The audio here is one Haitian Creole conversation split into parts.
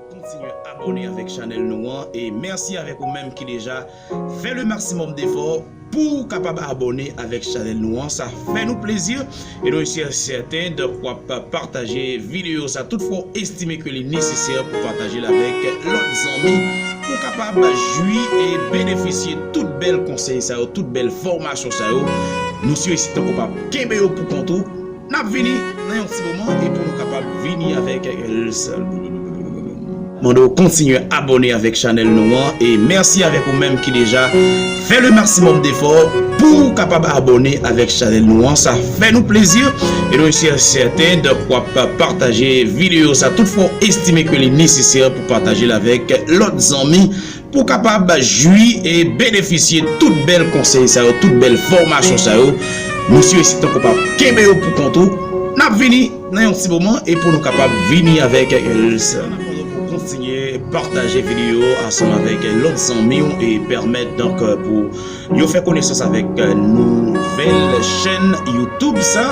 Kontinye abone avek chanel nou an e merci avek ou menm ki deja fè le maximum d'effort pouw kapab abone avek chanel nou an sa fè nou plezi e nou si sèten donk wap pataje video sa tout fwa ou estime ke li nesesè pou patajel avek lot zanmi pou kapab jwi e benefisye tout bèl konsèy sa yo tout bèl fomasyon sa yo nou si sèten ke w pa. Kenbe yo pou kont ou. N ap vini nan yon ti moman e pou nou kapab vini avèk lsrm. Mande w kontinye abone avèk chanèl nou an e mèsi avèk ou menm ki deja fè le maximum defò pou w kapab abone avèk chanèl nou an sa fè nou plezi e nou si sèten donk w ap pataje videyo sa tout fwa w estime ke li nesesè pou w patajel avèk lòt zanmi Pou w kapab jwi e benefisye tout bèl konsèy sa yo, tout bèl fòmasyon sa yo, mesye e si tankou pa kenbe yo pou kont ou, n ap vini nan yon ti moman e pou nou kapab vini avèk yon lòt an atandan pou w kontinye pataje videyo ansanm avèk lòt zanmi w e pèmèt donk pou yo fè konesans avèk nouvèl chèn youtube sa.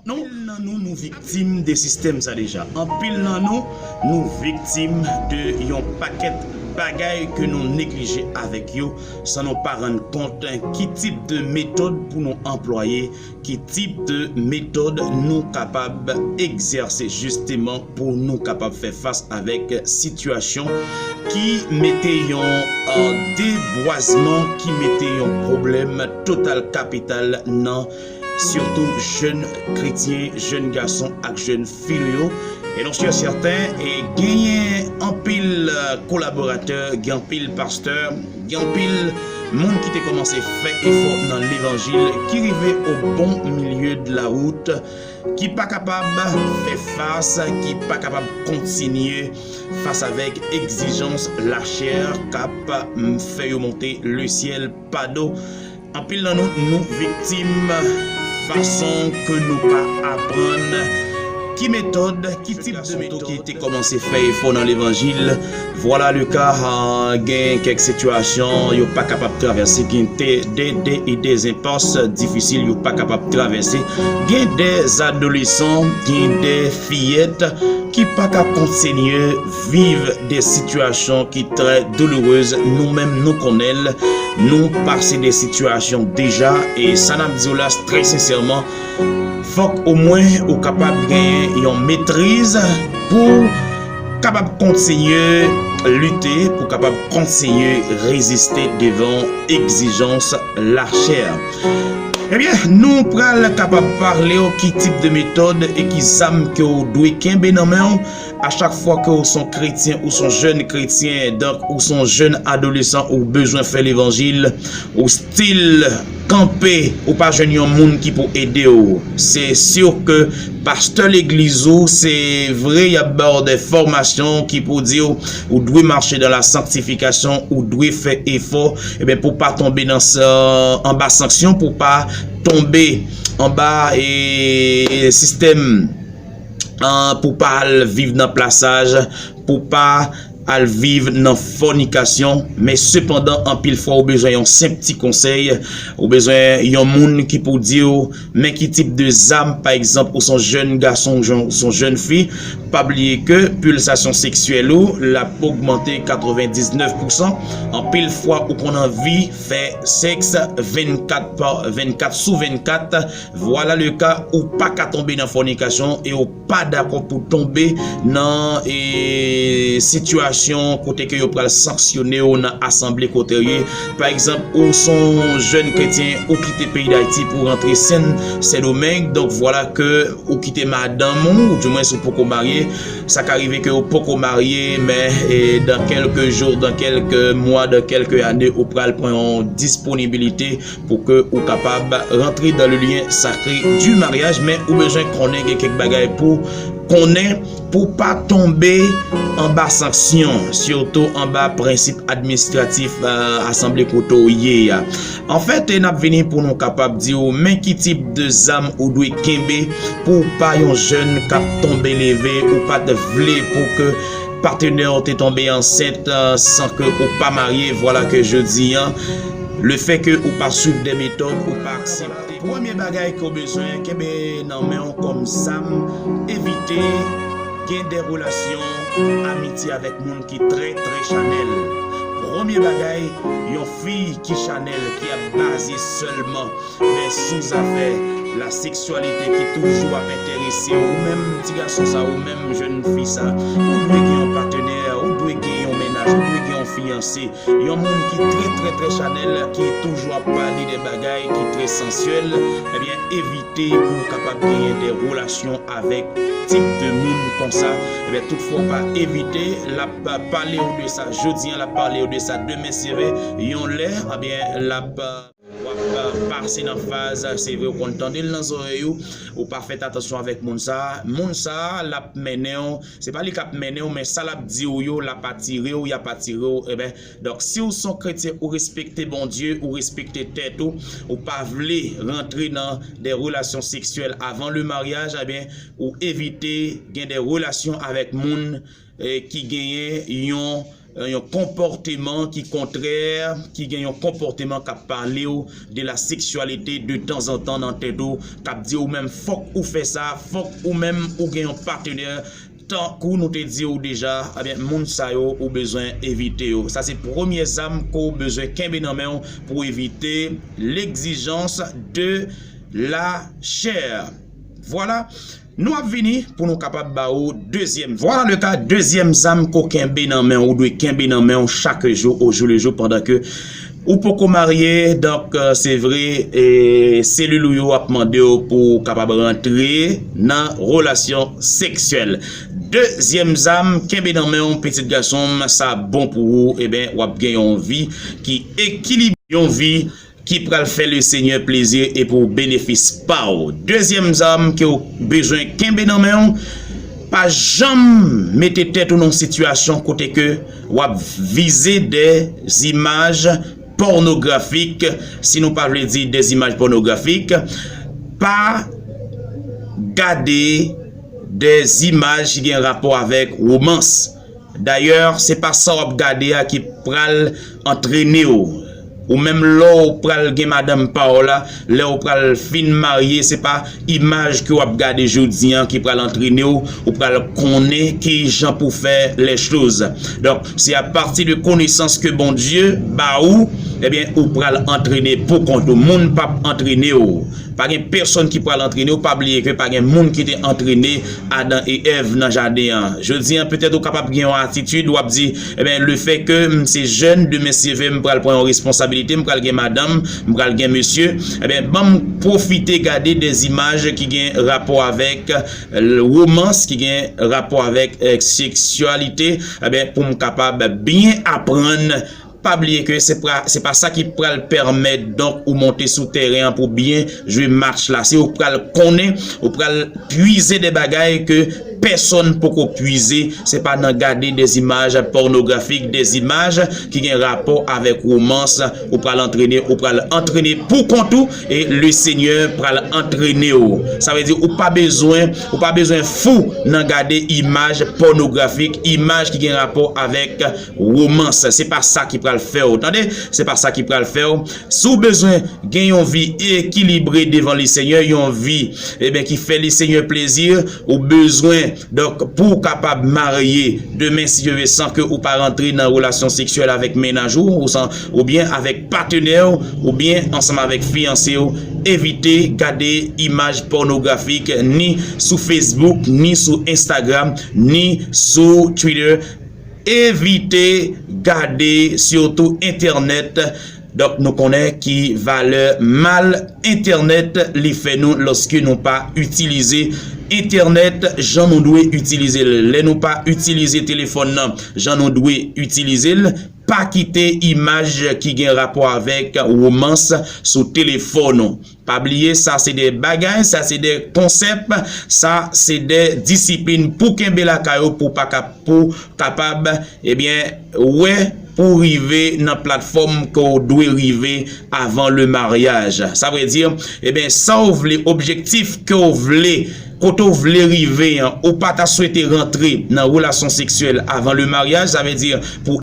Anpil nan nou nou viktim de sistèm sa deja. Anpil nan nou nou viktim de yon pakèt bagay ke nou neglije avèk yo san nou pa rann kont ki tip de metòd pou nou anplwaye, ki tip de metòd nou kapab egzèse jisteman pou nou kapab fè fas avèk sitiyasyon ki mete yon debwazman, ki mete yon pwoblèm total kapital nan Surtout jèn kretyen, jèn gason ak jèn fi nou yo. E nou sur sèten e genyen anpil kolaboratè, gen anpil pastè, gen anpil moun ki te kòmanse fè efò nan levanjil ki rive o bon milieu de la route ki pa kapab fè fas, ki pa kapab kontinye fas avèk egzijans lachè k ap fè yo monte le syèl pa do. Anpil nan nou nou viktim fason ke nou pa aprann ki metòd, ki tip de metòd. Fè gason toke te kòmanse fè efò nan levanjil, vwala le ka gen kèk sitiyasyon yo pa kapab travèse, gen de e de enpas difisil yo pa kapab travèse, gen de adolesan, gen de fiyèt ki pa ka kontinye. viv de sitiyasyon ki trè doulourez nou menm nou konnen l nou pase de sitiyasyon deja e sa nap diw la trè sensèman fòk o mwen ou kapab genyen yon metriz pouw kapab kontinye lite pou kapab kontinye reziste devan egzijans la chè ebyen nou pral kapab parlew ki tip de metòd e ki zam ke ou dwe kenbe nan menw. A chak fwa ke ou son kretyen ou son jèn kretyen donk ou son jèn adolesan ou bezwen fè levanjil ou stil kanpe ou pa jwenn yon moun ki pou ede ou se sur ke pastè legliz ou se vre yap ba ou de fòmasyon ki pou di ou ou dwe mache dan la sanktifikasyon ou dwe fè efò ebyen pou pa tonbe nan anba sanksyon pou pa tonbe anba ee sistèm. pou pa al viv nan plasaj, pou pa al viv nan fònikasyon, men sepandan anpil fwa ou bezwen yon senp ti konsèy, ou bezwen yon moun ki pou di ou men ki tip de zam pa egzanp ou son jèn gason ou son jèn fi, pa bliye ke pilsasyon seksyèl ou l ap ogmante 99 pousan, anpil fwa ou konn anvi fè sèks 24 sou 24, Vwala le ka ou pa ka tonbe nan fònikasyon e ou pa dakò pou tonbe nan e sitiyasyon kote ke yo pral sanksyone ou nan asanble kote ou ye. Pa egzanp, ou son jèn kretyen ou kite peyi Dayiti pou rantre Sen Sen Domeng, donk vwala ke ou kite madanm ou, ou di mwens ou poko marye, sa ka rive ke ou poko marye men e dan kèlke jou, dan kèlke mwa, dan kèlke ane ou pral pran yon disponibilite. Pou ke ou kapab rantre dan le lyen sakre di maryaj men ou bezwen konnen gen kèk bagay pou konnen pou pa tonbe anba sanksyon sitou anba prensip administratif asanble kote ou ye a. Anfèt n ap vini pou nou kapab di ou men ki tip de zam ou dwe kenbe pou w pa yon jèn k ap tonbe leve ou pa t vle pou ke patenè w te tonbe ansent san ke ou pa marye vwala ke jodi an Le fè ke ou pa swiv de metòd ou pa aksepte. Premye bagay ke w bezwen kenbe nan men w kòm zam, evite gen de relasyon amitye avèk moun ki trè trè chanèl. Premye bagay, yon fi ki chanèl, ki ap baze sèlman sou zafè la seksyalite, ki toujou ap enterese w, ou menm ti gason sa, ou menm jèn fi sa, ou dwe gen yon patenè, ou dwe gen yon mennaj, ou dwe gen yon fiyanse. Yon moun ki trè trè trè chanèl ki toujou ap pale de bagay ki trè sansyèl ebyen evite pou ou kapab genyen de relasyon avèk tip de moun konsa ebyen tout fwa ou pa evite lap palew de sa jodi an lap palew de sa demen sere yon lè ebyen lap Wap pase nan faz se vre ou konn tandel nan zorèy ou, ou pa fèt atansyon avèk moun sa, moun sa lap mennenw se pa li kap mennenw men sa lap diw yo lap atirew yap atirew enben donk siw son kretyen ou respekte Bondye ou respekte tèt ou ou pa vle rantre nan de relasyon seksyèl avan le maryaj enben ou evite gen de relasyon avèk moun ki genyen yon konpòteman ki kontrè, ki gen yon konpòteman k ap pale w de la seksyalite de tanzantan nan tèt ou, k ap di ou menm fòk ou fè sa, fòk ou menm ou gen yon patenè, tankou nou te di w deja, ebyen moun sa yo ou bezwen evite yo. Sa se premye zam ke w bezwen kenbe nan men w pou w evite legzijans de la chè. Vwala! Nou ap vini pou nou kapab ba ou dezyèm. Vwala le ka, dezyèm zam ke w kenbe nan men w, ou dwe kenbe nan men w chak jou o jou le jou pandan ke ou poko marye, donk se vre selil ou yo ap mande w pou w kapab rantre nan relasyon seksyèl. Dezyèm zam kenbe nan men w pitit gason m, sa bon pou ou, eben w ap gen yon vi ki ekilibre, yon vi. ki pral fè le Senyè plezi e pou benefis pa w. Dezyèm zam ke w bezwen kenbe nan men w, pa janm mete tèt ou nan yon sitiyasyon kote ke w ap vize dè zimaj pònografik, si nou pa vle di dè zimaj pònografik, pa gade dè zimaj ki gen rapò avèk womans. Dayè, se pa sa w ap gade a ki pral antrene w. Ou menm lè w pral gen madanm pa w la, lè w pral fin marye, se pa imaj ke w ap gade jodi an ki pral antrene w, ou pral konnen ki jan pou fè lèchoz. Donk, se apati de konesans ke Bondye ba ou, ebyen ou pral antrene poukont ou. Moun p ap antrene w. Pa gen pèsonn ki pral antrene w, pa bliye ke pa gen moun ki te antrene Adan e Èv nan jaden an. Jodi an, petèt ou kapab gen yon atitid, w ap di, Enben, lefè ke m se jèn, demen si ve m pral pran yon responsabilite, m pral gen madanm, m pral gen mesye. Enben, ban m pwofite gade de zimaj ki gen rapò avèk womans, ki gen rapò avèk seksyalite, enben, pou m kapab byen aprann. Pa bliye ke se pa sa ki pral pèmèt donk ou monte sou tèren an pou byen jwe match la. Se ou pral konnen, ou pral pwize de bagay ke pèsonn poko pwize. Se pa nan gade de zimaj pònografik, de zimaj ki gen rapò avèk womans ou pral antrene. Ou pral antrene pou kont ou e le Senyè pral antrene ou. Sa vle di ou pa bezwen, ou pa bezwen fou nan gade imaj pònografik, imaj ki gen rapò avèk. Romance se pa sa ki pral fè w tande, se pa sa ki pral fè w. Si w bezwen gen yon vi ekilibre devan le Senyè, yon vi eben ki fè le Senyè plezi, ou bezwen donk pou w kapab marye demen si Dye ve san ke ou pa rantre nan relasyon seksyèl avèk mennaj ou oubyen avèk patenè w oubyen ansanm avèk fiyanse w, evite gade imaj pònografik ni sou Facebook, ni sou Instagram, ni sou Twitter. Evite gade sitou entènèt donk nou konnen ki valè mal entènèt li fè nou lòske nou pa itilize entènèt jan nou dwe itilize l lè nou pa itilize telefòn nan jan nou dwe itilize l pa kite imaj ki gen rapò avèk womans sou telefòn ou Pa bliye sa se de bagay, sa se de konsèp, sa se de disiplin pou kenbe lakay ou pou pa pou kapab ebyen wè pou w rive nan platfòm ke w dwe rive avan le maryaj. Sa vle di ebyen sa w vle objektif ke w vle kote w vle rive an ou pa ta swete rantre nan relasyon seksyèl avan le maryaj sa vle di pou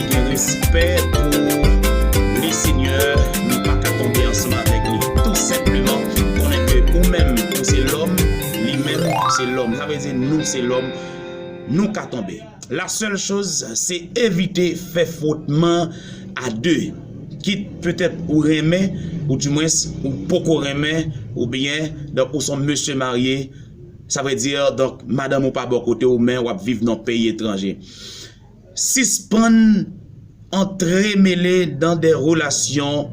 Gen respè pou Le Seigneur nou pa ka tonbe ansanm avèk li tou senpleman konnen ke ou menm ou se lòm li menm se lòm sa vle di nou se lòm nou ka tonbe la sèl choz se evite fè fwotman a 2 kit petèt ou renmen ou di mwens ou poko renmen ou byen donk ou son mesye marye sa vle di donk madanm ou pa bò kote ou men wap viv nan peyi etranje. Sispann antremele dan de relasyon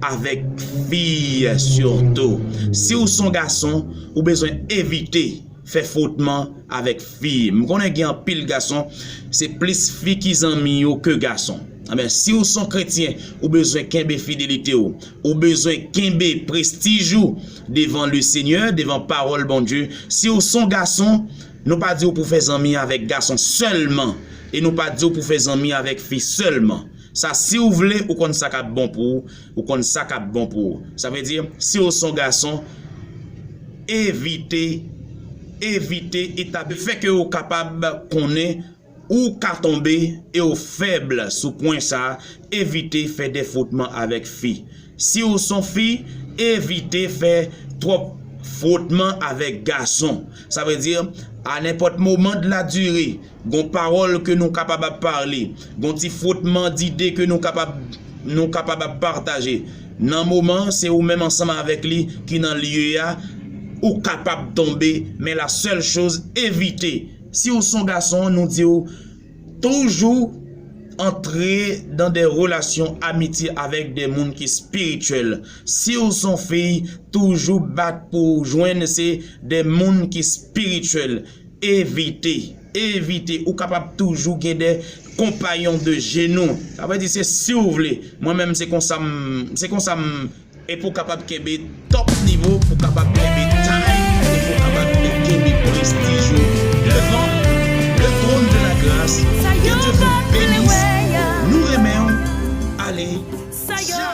avèk fi sitou si ou son gason ou bezwen evite fè fwotman avèk fi m konnen gen anpil gason se plis fi ki zanmi yo ke gason anben si ou son kretyen ou bezwen kenbe fidelite ou ou bezwen kenbe prestij ou devan le senyè devan pawòl Bondye si ou son gason Nou pa di w pou fè zanmi avèk gason sèlman e nou pa di w pou fè zanmi avèk fi sèlman. Sa si w vle ou konn sa k ap bon pou w, ou konn sa k ap bon pou w. Sa vle di si w s on gason evite, evite etabli. Fè ke ou kapab konnen. Ou ka tonbe e w fèb sou pwen sa, evite fè de fwotman avèk fi. Si w son fi, evite fè twòp fwotman avèk gason. Sa vle di, a nenpòt moman de la dire, gon pawòl ke nou kapab ap pale, gon ti fwotman dide ke nou kapab nou kapab ap pataje. Nan moman se ou menm ansanm avèk li ki nan lye a, ou kapab tonbe men la sèl choz evite. Si w son gason nou di w toujou antre dan de relasyon amitye avèk de moun ki spirityèl. Si w son fi toujou bat pou w jwenn se de moun ki spirityèl. Evite, evite ou kapab toujou gen de konpayon de jenou. Sa vle di se si w vle. Mwen menm se konsa m, se konsa m. E pou kapab kenbe top nivo, pou kapab kenbe tay, e pou kapab kenbe prestij ou devan le trône de la grâce, ke Dieu vous benisse, nou renmen w, ale tchaw!